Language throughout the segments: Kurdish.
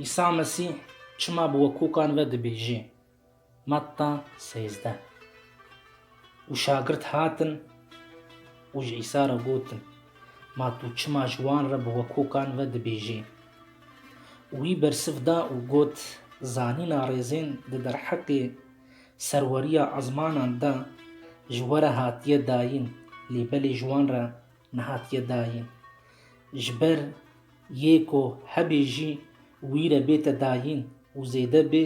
Îsa Mesî çima bi wekokan ve dibêjê? Matta sêzdeh Û şagirt hatin û ji Îsa re gotin, Ma tu çima ji wan re bi wekokan ve dibêjê? Û wî bersiv da û got, Zanîna rêzên di derheqê serweriya ezmanan de ji we re hatiye dayîn, lê belê ji wan re Nehatiye dayîn. Ji ber yê ku hebê jî wî re bête dayîn û zêde bê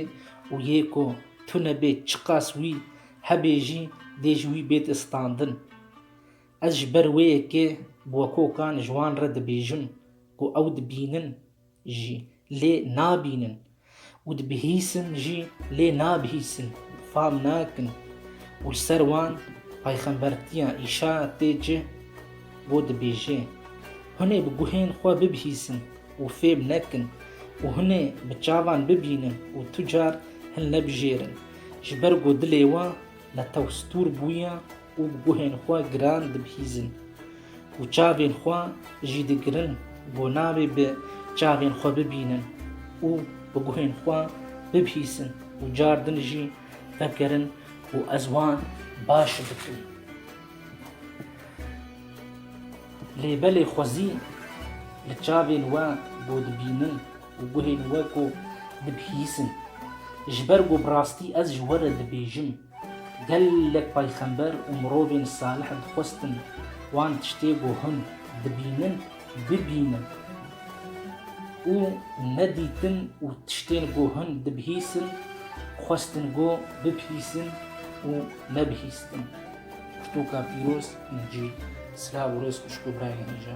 û yê ku tune bê çiqas wî hebê jî dê ji wî bête standin. Ez ji ber wê yekê bi wekokan ji wan re dibêjim ku ew dibînin jî lê nabînin û dibihîsin jî lê nabihîsin û fam nakin û li ser wan payxembertiya Îşa tê cih bo dibêje, Hûn ê bi guhên xwe bibihîsin û fêm nekin û hûn ê bi çavan bibînin û tu car hin nebijêrin, ji ber ku dilê wan li tew stûr bûye. û bi guhên xwe giran dibihîzin û çavên xwe jî digirin bo navê bi çavên xwe bibînin û bi guhên xwe bibihîzin û car din jî vekirin û ez wan baş bikim. Lê belê xwezî li çavên we bo dibînin û guhên we ku dibihîzin ji ber ku bi rastî ez ji we re dibêjim Gelek payxember û mirovên salih dixwestin wan tiştê ku hûn dibînin bibînin û nedîtin û tiştên ku hûn dibihîsin xwestin ku bibhîsin û nebihîstin. Pirtûka pîroz, Încîl. Silav û rêz xwişk û birayên hêja.